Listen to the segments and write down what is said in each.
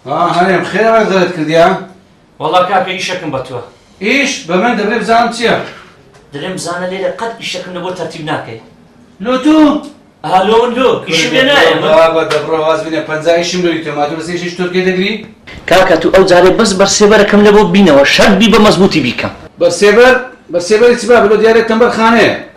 هەرێم خێرا زەرت کردیا وەڵا کاکە ئیشەکەم بە تۆ ئیش بە من دەبێ بزانم چییە دەبێ بزانە لێرە قەت ئیشەکەم لە بۆ تەرتیب ناکەی لۆ تو هەلۆ لۆ ئیشم لێ نایە بابە دەبڕە واز بینە پەنجا ئیشم لۆی تۆ مادوو بەس ئیشیش تورکێ دەگری کاکە تو ئەو جارێ بەس بەرسێبەرەکەم لە بۆ بینەوە شەرت بی بە مەزبوتی بیکەم بەرسێبەر بەرسێبەری چ بابە لۆ دیارێت تەمبەر خانەیە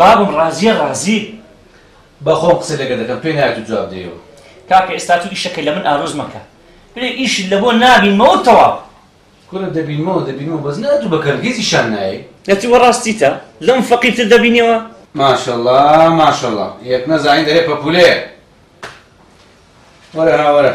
بابم ڕازیە ڕازی بە خۆم قسە لەگەر دەکەم پێ نایەت و جواب دەیەوە. کاکە ئێستا تو ئیشەکە لەمن ئارۆز مەکە بلێ ئیشت لەبۆ نابینمەوەو تەواو. کورە دەبینمەوە دەبینمەوە بەس نا ئەتو بەکەر هیچ ئیشان نایەی. ئەتو وەڕاستیتە لەم فەقیر تر دەبینیەوە. ماشەڵا ماشەڵا یەک نەزانی دەرێ پەپولەیە وەرە ها وەرە.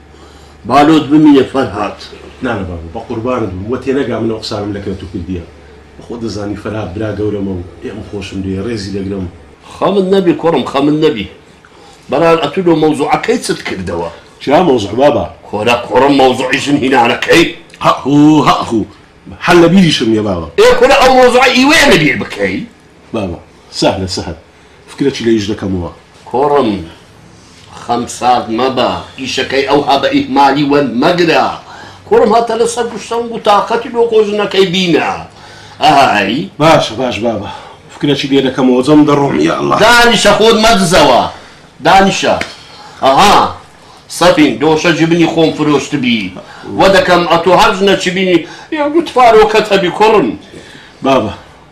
بالۆت بمینە فەرهاد. نانا بابە بەقوربانت بم وە تێنەگا من ئەو قسانەم لە کەرت و پردیە بە خۆت دەزانی فەرهاد برا گەورەمە و پێم خۆشم لێیە ڕێزی دەگرم. خەمت نەبی کوڕم خەمت نەبی. بەران ئەتوو لۆ مەوزوعە کەی چت کردەوە. چیا مەوزوع بابە. کورە کوڕم مەوزوعی ژن هینانە کەی. هەئهوو هەئهوو هەر لە بیریشم نیە بابە. ئێ کورە ئەو مەوزوعە ئیوەیە لە بیر بکەی. بابە سەهلە سەهل. فکرەکی لەیش دەکەمەوە. کوڕم خەم سارد مەبە ئیشەکەی ئەوها بە ئیهمالی وەر مەگرە کوڕم هەتە لە سەر گشت سەنگ و تاقەتی لۆ خۆ ژنەکەی بینە ئەی. باشە باش بابە فکرەکی لێ دەکەمەوە جەم دەڕۆم یا اللە. دانیشە خۆت مەدزەوە دانیشە ئەها سەفین دۆشە جبنی خۆم فرۆشتبی وە دەکەم ئەتۆ هەر ژنەکی بینی یەک دوو تفارۆکەت هەبی کوڕم. بابە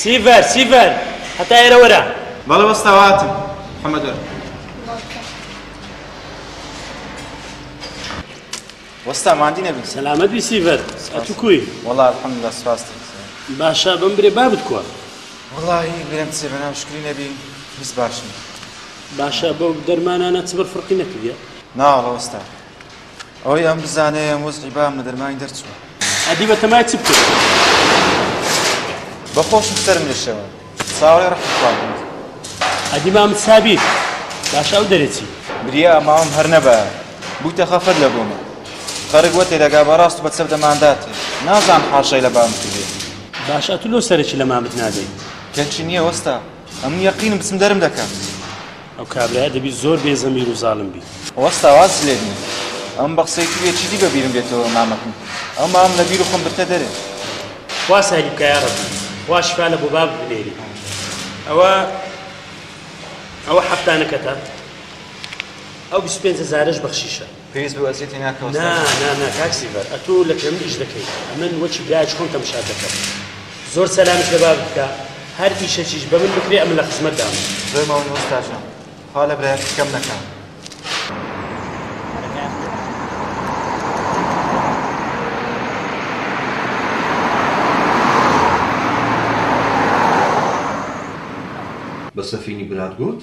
سیڤەر! سیڤەر! هەتا ئێرە وەرە! بەڵێ وەستاوە هاتم محەمەد وەرە. وەستا ماندی نەبی. سەلامەت بی سیڤەر ئەتوو کوی؟ وەڵا الحمدللە سپاست. باشە بەم برێ بابت کوە؟ وەڵاهی برێم چێ بەناو شکری نەبی هیچ باش نیم. باشە بەو دەرمانانە چبر فرقی نەکردیە؟ نا وەڵا وەستا. ئەوەی ئەم بزانێ ئەم وەزعی بام لە دەرمانی دەرچووە ئەدی بە تەمای چ بکرد بەخۆشم سەرم لەشەوە ساوەی ڕحخوارد ئەدی مام سابیر باش ئەو دەرەچی بریا ماوەم هەر نەبە بووتە خەفەت لە بۆمە خەرک وەتێ دەگا بەڕاست بە چەپ دەماندات نازان حاشای لە بام کردێت باش ئەتو لۆ سەرەکی لە مامت نادەی کەچی نییە وەستا ئەمن یەقینم بچم دەرم دەکەن ئەو کابرایە دەبی زۆر بێ زەمیر و زاڵم بی وەستا واز لێ بین ئەم بە قسەی تریە چیدی بە بیرم بێتەوە مامەکەم ئەو مام لە بیر و خۆم برتە دەرێ وا ساری بکایە ڕەبی وا شفا لە بۆباب بنێری ئەوە ئەوە حەفتانەکەتە ئەو 25 هزارش بەخشیشە پێویست بەو ئەزیەتەی ناکەوە نا ستافی نا نا کاک سیڤەر ئەتۆ لە کرێمل ئیش دەکەی من وەکی برایەک خۆم تەمشات دەکەم زۆر سەلامت لە باب بکە هەر ئیشەکیش بە من بکرێ ئەمن لە خزمەت دام زۆر ماونی ئوستاجان خوا لە برایەت کەم نەکا بە سەفینی برات گوت؟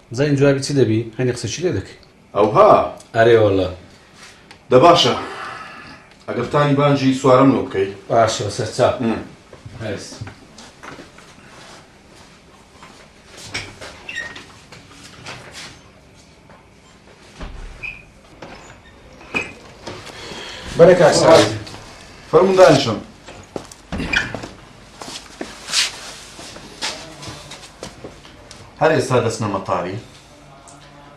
بزانین جوابی چ دەبی هەنێ قسەشی لێ دەکەی. ئەوها؟ ئەرێ وەڵا. دە باشە ئەگەر تاری بانجی سوارەم لۆ بکەی. باشە بەسەر چا هەرس. بەرە کاک سەعید فەرموو دانیشن هەر ئێستا دەچنە مەتاری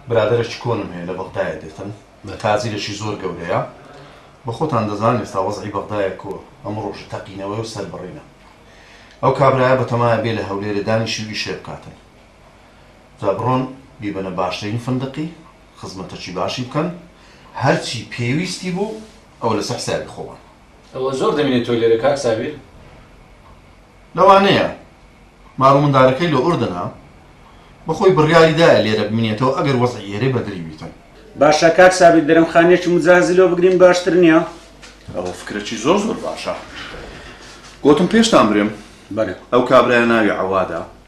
برادەرێکی کۆنم هەیە لە بەغدایە دێتن لە تازیرێکی زۆر گەورەیە بە خۆتان دەزان ئێستا وەزعی بەغدایە کۆ ئەمە ڕۆژ تەقینەوەی و سەربڕینە ئەو کابراە بەتەمایە بێ لە هەولێرە دانیشیوی شێ بکاتن جا بڕۆن بیبەنە باشترین فندقی خزمەتەکی باشی بکەن هەرچی پێویستی بوو ئەوە لەسەر حسابی خۆمان. ئەوە زۆر دەمێنێ تۆ لێرە کاک سابیر؟ لەوانەیە مارو مندارەکەی لە ئوردنە بەخۆی بڕیاری دایە لێرە بمینێتەوە ئەگەر وەزعی ئێرەی بەدری بیتن. باشە کاک سابیر درەم خانیەکی مجازی لۆ بگرین باشتر نیە؟ ئەوە فکرەکی زۆر زۆر باشە گۆتم پێشتان برێم بەرێ ئەو کابرایە ناوی عەوادە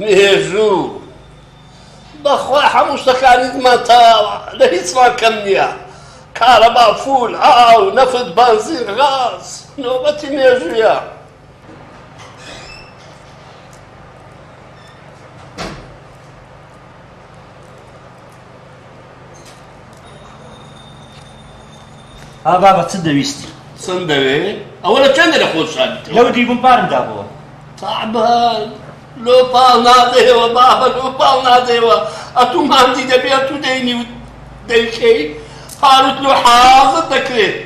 مێژوو بەخوا هەموو شتەکانی زمان تەواوە لە هیچمان کەم نییە کارەبا فول ئاو نەفت بەنزین غاز نۆبەتی مێژوویە ها بابە چ دەویستی؟ چەند دەوێ؟ ئەوە لە چەندە لە خۆت شاردیتەوە؟ لەو دیبووم پارم دابەوە. تابان لۆ پاڵ نادەیەوە بابە لۆ پاڵ نادەیەوە ئەتوو ماندی دەبێ ئەتوو دەینی و دەیکەی پاروت لۆ حازر دەکرێت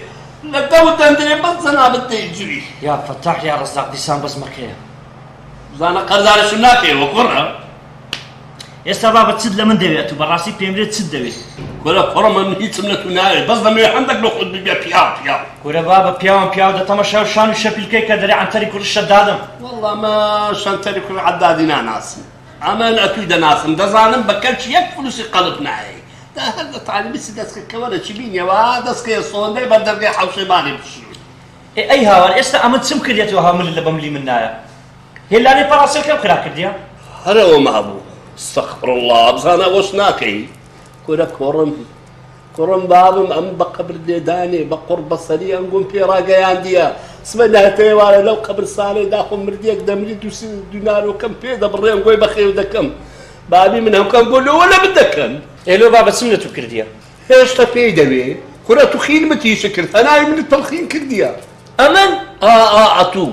لە دەو دەندرێ بەس جەنابت دەیجوی یا فەتاح یا ڕەزاق دیسان بەس مەکەیە بزانە قەرزارشم ناکەیەوە کوڕە ئێستا بابە چت لە من دەوێت و بەڕاستی پێمرێت چت دەوێت کورە کوڕە من هیچم لە تو ناوێت بەس دەمەوێت هەندێک لە خۆت ببێ پیاو پیاو کورە بابە پیاوم پیاو دەتەمە شاو شان و شەپیلکەی کە دەرێ عەنتەری کوڕی شەدادم والله ما شەنتەری کوڕی عەدادی ناناسم ئەمە لە ئەتووی دەناسم دەزانم بە کەلچ یەک فلوسی قەلب نایەی دا هەر لە تالیبیسی دەستکە کەوەرە چی بینیەوە دەستکەیە سۆندەی بە دەرگەی حەوشەی ماری بشی ئەی هاوار ئێستا ئەمن چم کردێتەوە هەمل لە بەملی من نایە هێلانەی پەڕاسێ کەم خراپ کردیە؟ هەر ئەوەم هەبوو استغفراللە بزانە ئەوەش ناکەی کورە کۆڕم کوڕم بابم ئەم بە قبر لێدانێ بە قڕ بەسەری ئەنگۆم پێڕاگەیاندیە سمە نهتەیەوارە لەو قبرسانەی داخۆ مردیەک دەمری دووسی دونارۆکەم پێ دەبڕێن گۆی بەخێو دەکەم بابی من هەمکەم گۆلەوە لە من دەکەن ئێلۆ با بەچم لە تو کردیە هێشتا پێی دەوێ کورە تو خیلمت هیچ کرد هەناوی من تەڵخین کردیە ئەمن ئا ئا ئەتوو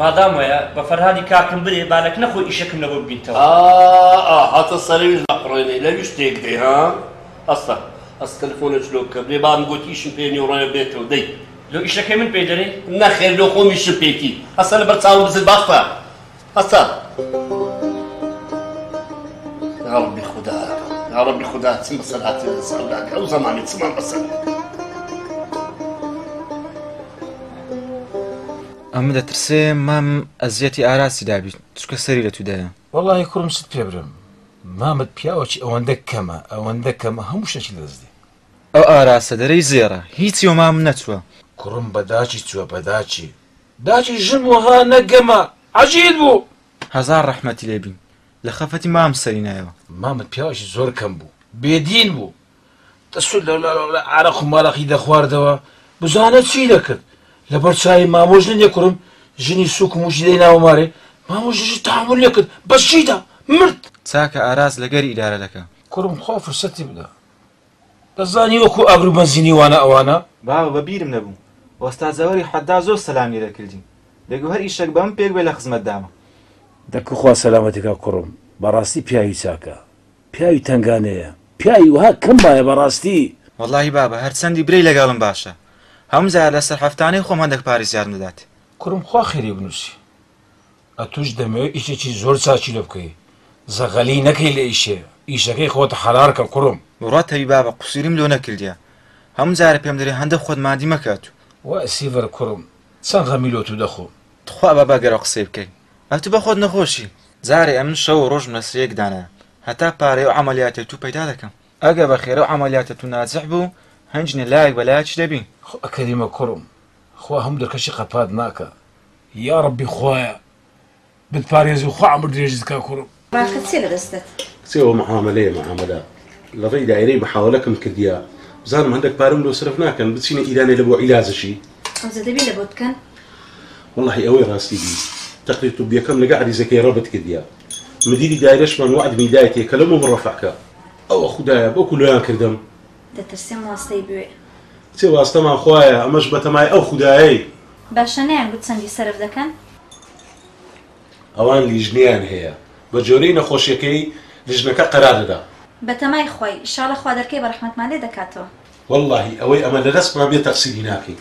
مادام وەیە بە فەرهادی کاکم برێ با لەکنە خۆی ئیشەکم لەبۆ ببینتەوە. ئا ئا هاتە سەرەویش نەقڕێنێ لەویش تێک دەی ها ئەستە ئەستە تەلفۆنێچ لۆ بکە برێ بابم گۆت ئیشم پێ نیە و ڕۆێ بێتەوە دەی. لۆ ئیشەکەی من پێی دەرێی؟ نەخێر لۆ خۆم ئیشم پێیتی ئەستە لەبەر چاوم بزر باستە ئەستە. یاڕەبی خودا یاڕەبی خودا چم بەسەر هاتێ لە سەرداکە ئەو زەمانی چمان بەسەر. ئەمن دەترسێ مام ئەزیەتی ئاراسی دابی چکە سەری لە تودایە. وەڵاهی کوڕم چت پێ برم مامت پیاوەکی ئەوەندە کەمە ئەوەندە کەمە هەموو شتێکی لەدەست دێ. ئەو ئاراسە دەرێی زێڕە هیچی وە مام نەچوە. کوڕم بە داکی چوە بە داکی. داکی ژن بوو ها نەک گەمە عەجیل بوو. هەزار ڕەحمەتی لێ بی لە خەفەتی مام سەری نایەوە. مامت پیاوەکی زۆر کەم بوو بێ دین بوو. دەسوود لە لە عارەق و مارەقی دەخواردەوە بزانە چی دەکرد لەبەر چاوی مامۆ ژنە نێکورم ژنی سووک و مووشی دەیناوە مارێ مامۆ ژنیش تەحەموول نەکرد بە شیدا مرد. چاکە ئاراس لە گەر ئیدارە دەکا. کورم خوا فرسەتی بدا دەزانی وەکو ئابرو بەنزینی وانە ئەوانە. باوە بە بیرم نەبوو ئۆستا جەوەری حەداد زۆر سەلام لێ دەکردین بێگو هەر ئیشەک بەمن پێک بێ لە خزمەتدامە. دە کخوا سەلامەتێکا کوڕم بەڕاستی پیاوی چاکە. پیاوی تەنگانەیە پیاوی وەها کەم بایە بەڕاستی. وەڵاهی بابە هەر چەندی برێی لەگەڵم باشە هەموو جار لەسەر هەفتانەی خۆم هەندەک پارەی زیادم دەدات. کوڕم خوا خێری بنوسی ئەتوش دەمەوێ ئیشێکی زۆر چاکی لۆ بکەی زەغەلی نەکەی لە ئیشێ ئیشەکەی خۆت حەلال کە کوڕم. بڕوات هەبی بابە قوسوریم لۆ نەکردیە هەموو جارە پێم دەرێ هەندەک خۆت مادی مەکە ئەتو. وای سیڤەر کوڕم چەند غەمی لۆ تو دەخۆم تخوا با بەگەرە قسەی بکەی ئەتو بەخۆت نەخۆشی. جارێ ئەمن شەو و ڕۆژم لەسرێک دانا هەتا پارەی ئەو عەمەلیاتەی تو پەیدا دەکەم ئەگەر بەخێرە و عەمەلیاتە تو ناجح بو هەنجنێ لایەک بە لایەکی دەبی. خو کەریمە کوڕم خوا هەموو دەرکەشی قەپات ناکا یاڕەبی خوایە بتپارێزی و خوا عەمر درێژت کا کوڕم. باخە چیە لە دەستت. کچێ ئەوە معامەلەیە معامەلە لە ڕێی دایرەی محاوەلەکم کردیە بزانم هەندەک پارەم لۆ سەرف ناکەن بچینە ئیرانێ لە بۆ عیلاجشی ئەوجە دەبی لە بۆت بکەن. وەڵاهی ئەوەی ڕاستی بی تەقریر طبیەکەم لەگە عەریزەکەی ڕەبت کردیە مدیری دایرەشمان وەعدمی دایتێ کە لە مۆم ڕەفع کە ئەوە خودایە بەوکو لۆیان کردم. دەترسم واستەی بوێ. کچێ واستەمان خوایە ئەمەش بەتەمای ئەو خودایەی. باشە نەیان گوت چەندی سەرف دەکەن. ئەوان لیژنەیان هەیە بە جۆرەی نەخۆشیەکەی لیژنەکە قەرار دەدا. بەتەمای خوای ئیشاڵە خوا دەرکەی بە ڕەحمەتمان لێ دەکاتەوە. وەڵاهی ئەوەی ئەمە لەدەستمان بێ تەقسیری ناکەین.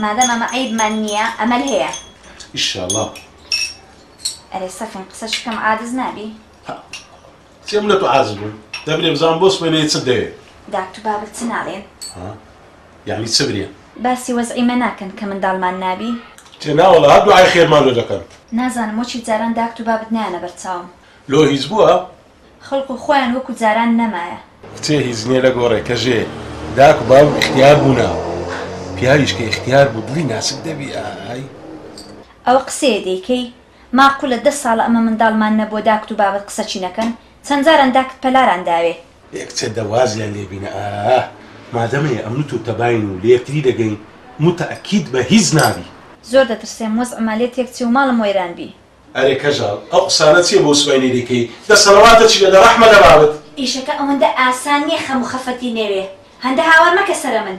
مادام ئەمە عەیبمان نییە ئەمەل هەیە. ئیشاڵا. ئەرێ سەفین قسەشی کەم عادز نابی. سێ ملە تو عاجز بوو دەبرێ بزان بۆ سبەینێ چت دەوێ. داک تو بابت چ ناڵێن. ها یەعنی چ برێ. باسی وەزعی مە ناکەن کە منداڵمان نابی. کچێ نا وەڵا هەر دوعای خێرمان لۆ دەکەن. نازانم وەکی جاران داک تو بابت نایەنە بەر چاوم. لۆ هیچ بوە؟ خەڵکو خۆیان وەکو جاران نەمایە. کچێ هیچ نیە لە گۆڕێ کە ژێ داک و باب ئیختیار بونە پیاویش کە ئیختیار بو دڵی ناسک دەبی ئای. ئەوە قسەیە دەیکەی ماقولە دە ساڵە ئەمە منداڵمان نەبووە داکت و بابت قسە چی نەکەن چەند جاران داکت پەلاران داوێ. ئێک چە دە وازیان لێ بینە ئاا مادە مە یە ئە مت و تە باین و لە یەکتری دە گەین مو تە ئە کید بە هیچ نابی. زۆر دەترسێم وەزع ما لێ تێک چێ و ماڵم وەیران بی. ئەرێ کەژاڵ ئەو قسانە چیە بۆ سوپای نەی دەیکەی دە سەڵەواتە چی لە دە ڕەحمە لە بابت. ئیشەکە ئەوەندە ئاسان نیە خەم و خەفەتی نەوێ هەندە هاوار مەکە سەرە من.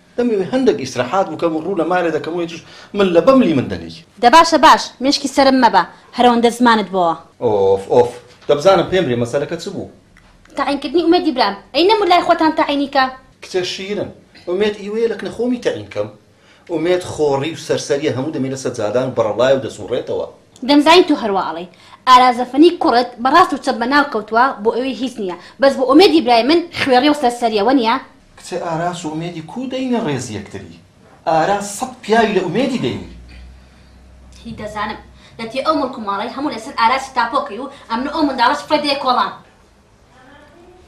دەمەوێ هەندەک ئیسرەحات بکەم و ڕوو لە مارێ دەکەم و ئێتیش من لە بەملی من دەنێی. دە باشە باش، مێشکی سەرم مەبە، هەرەوەندە زمانت بۆوە. ئۆف ئۆف، دە بزانم پێم بلێ مەسەلەکە چ بوو؟ تەعین کردنی ئومێدی برام، ئەی نەمر لای خۆتان تەعینی کە. کچە شیرن، ئومێد ئیوەیە لەکنە خۆمی تەعین کەم؟ ئومێد خۆڕی و سەرسەریە هەموو دەمێ لە سەجادان و بەڕەڵایە و دەسوڕێتەوە. دەمزانی تۆ هەروا ئەڵێی. ئارا زەفەنی کوڕت بە ڕاست و چەپ بەناو کەوتووە بۆ ئەوی هیچ نیە بەس بۆ ئومێدی برای من خوێڕیە و سەرسەریە وەنیە؟ کچە ئاراس و ئومێدی کوو دەینە ڕێز یەکتری ئاراس سەد پیاوی لە ئومێدی دەینی. هی دەزانم دەتیە ئەو مڵک و ماڵەی هەموو لەسەر ئاراسی تاپۆ کەی و ئەمن و ئەو منداڵە سفرەت دەیە کۆڵان.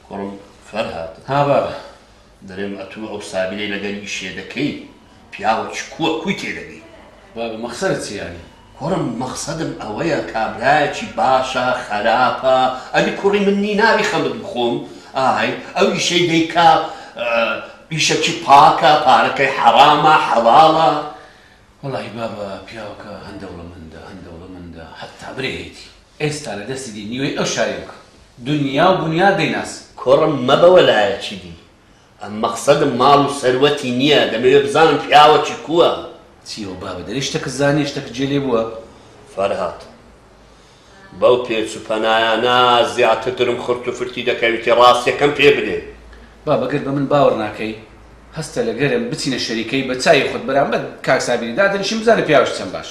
کوڕم فەرهاد ها بابە دەرێم ئەتوو ئەو سابیرەی لەگەر یشێ دەکەی پیاوە چ کووە کووی تێ دەگەی. بابە مەخسەرت چیە یانی؟ کوڕم مەخسەدم ئەوەیە کابرایەکی باشە خەراپە ئەدی کوڕی من نی ناوی خەمت بخۆم ئای ئەو ئیشەی دەیکا ئیشەکی پاکە پارەکەی حەرامە حەڵاڵە وەڵاهی بابە پیاوەکە هەن دەوڵەمەندە هەن دەوڵەمەندە حەتا برێ هەیتی ئێستا لە دەستی دی نیوەی ئەو شاری بکە دونیا و بونیا دەیناسی. کوڕم مەبە وەلایەکی دی مەقسەدم ماڵ و سەروەتی نیە دەمەوێ بزانم پیاوەکی کووە. چی ئەو بابە دەرێ شتەکت زانیە شتەکت جێ لێ بووە. فەرهاد بەو پێچ و پەنایانە زیاتر درم خورت و فرتی دەکەویتی ڕاستیەکەم پێ بلێ. بابە گەر بە من باوەڕ ناکەی هەستە لەگەرم بچینە شەریکەی بە چاوی خۆت بەرامبەر کاک سابیری دادەنیشم بزانە پیاوەکی چەند باش.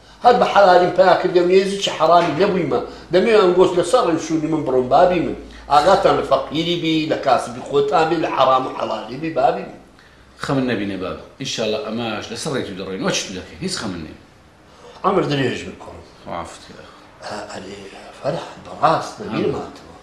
هەر بە حەلالیم پیا کردیە و نێزیکی حەرامی نەبویمە، دەمەوێ ئەنگۆس لە سەر ڕێو شونی من بڕۆن بابی من، ئاگاتان لە فەقیری بی، لە کاسبی خۆتان بی، لە حەرام و حەلالی بی بابی من. خەمت نەبینێ بابە ئینشاڵا ئەماش لە سەر ڕێتو دەڕۆین وەچی تو دەکەین هیچ خەمت نیە. عەمر درێژ بی کوڕم. مافت کرد ئەخۆ. ئەرێ فەرهاد بەڕاست نەبیرمانتەوە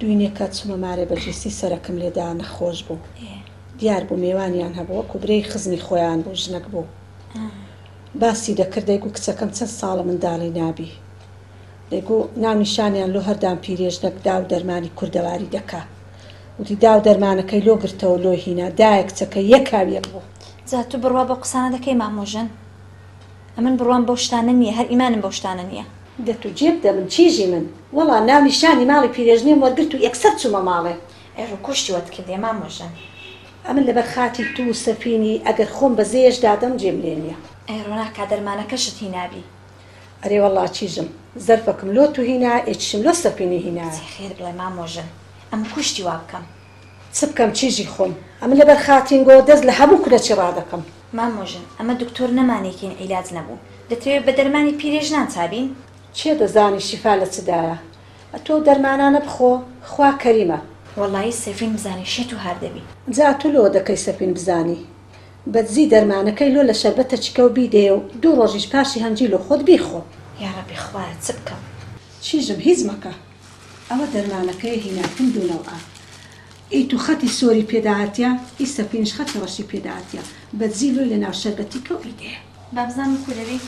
دوینێکە چومە مارێ بەجیسی سەرەکم لێدا نەخۆش بوو دیار بوو مێوانیان هەبوو وەکو برێی خزمی خۆیان بوو ژنەک بوو باسی دەکرد دەیگو کچەکەم چەن ساڵە مندالی نابی دەیگو ناو نیشانیان لۆ هەردام پیرێژنەک داو دەرمانی کوردەواری دەکا وتی داو دەرمانەکەی لۆ گرتەوە لۆی هینا دایە کچەکە یەک هاو یەک بوو. جا تو بڕوا بەو قسانە دەکەی مامۆ ژن. ئەمن بڕوام بەو شتانە نیە هەر ئیمانم بەو شتانە نیە. دەت و جێ بدە من چیژی من. وەڵا ناو نیشانی ماڵی پیرێژنێم وەرگرت و یەکسەر چومە ماڵێ. ئەی ڕوکوشتی وەت کردیە مامە ژن. ئەمن لەبەر خاتری تو و سەفینی ئەگەر خۆم بە زێیەش دادەم جێم لێ نیە. ئەی ڕۆناکا دەرمانەکەشت هینابی. ئەرێ وەڵا چیژم زەرفەکم لۆ تو هینا ئێ چشم لۆ سەفینی هینایە. جێ خێر بڵێ مامۆ ژن ئەمن کوشتی وابکەم. چ بکەم چیژی خۆم ئەمن لەبەر خاتینگۆ دەست لە هەموو کونەچی ڕادەکەم. مامۆ ژن ئەمە دکتۆر نەمانێکین عیلاج نەبوو دەتەوێ بە دەرمانی پیرێژنان چابین؟ کێ دەزانی شیفا لە چدایە ئەتۆو دەرمانانە بخۆ خوا کەریمە. وەڵایی سەفین بزانی شێت و هار دەبی. جا ئەتو لۆ دەکەی سەفین بزانی بە دزی دەرمانەکەی لۆ لە شەربەتە چکەو بیدەیەو دوو ڕۆژیش پاشی هەنجی لۆ خۆت بیخۆ. یاڕەبی خوایە چ بکەم. چیژم هیچ مەکە ئەوە دەرمانەکەیە هیناکن دوو نەوعە ئی تو خەتی سۆری پێ داهاتیە ئی سەپینش خەتی ڕەشی پێ داهاتیە بەدزی لۆی لە ناو شەربەتی کەو ئی دێ. بابزانم کو دەبی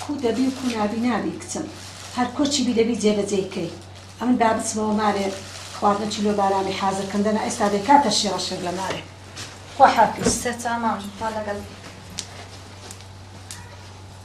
کو دەبی و کو نابی نابی کچم هەر کۆچی بی دەبی جێ بەجێی کەی ئەمن با بچمەوە مارێ خواردنەکی لۆ بارامێ حازر کەم دەنا ئێستا دەی کاتە شیڕە شێر لە مارێ خوا حافیز. سەرچاوە مامە ژیر خوا لەگەڵ بی.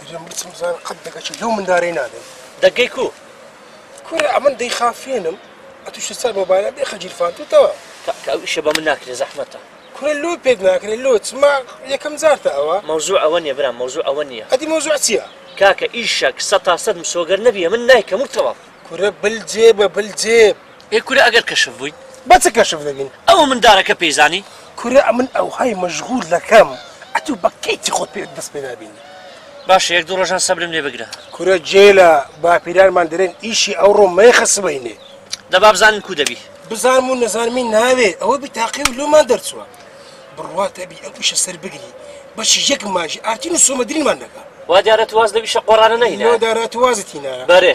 دەرێم بچم بزان قەت دەگەچی لەو مندارەی نادەم دەگەی کو کورە ئەمن دەی خافێنم ئەتوش سەر مۆبایلە بێ خەجیرفان توتەوە کاکە ئەو ئیشە بە من ناکرێ زەحمەتە کورە لۆ پێت ناکرێت لۆ چما یەکەم جارتە ئەوە مەوزوع ئەوە نیە برام مەوزوع ئەوە نیە ئەدی مەوزوع چیە کاکە ئیشەک سەتا سەد مسۆگەر نەبیە من نایکەم و تەواو کورە بل جێبە بل جێب ئێ کورە ئەگەر کەشف بووین بە چ کەشف دەبین؟ ئەو مندارەکە پێی زانی؟ کورە ئەمن ئەوهای مەشغول دەکەم ئەتوو بە کەیفی خۆت پێ دەست پێ نابینی. باشە یەک دوو ڕۆژان سەبرم لێ بگرە. کورە جێ لە باپیرانمان دەرێن ئیشی ئەوڕۆ مەیخە سبەینێ. دە با بزانم کوو دەبی. بزانم و نەزانمی ناوێ ئەوە بیتاقی و لۆمان دەرچووە. بڕوات ئەبی ئەو ئیشە سەر بگری بەشی یەک ماژی ئارتین و سۆمەدرینمان دەکا. وا دیارە تو واز لەو ئیشە قۆڕانە نەهینایە. لۆ دارا تو وازت هینایە. بەرێ.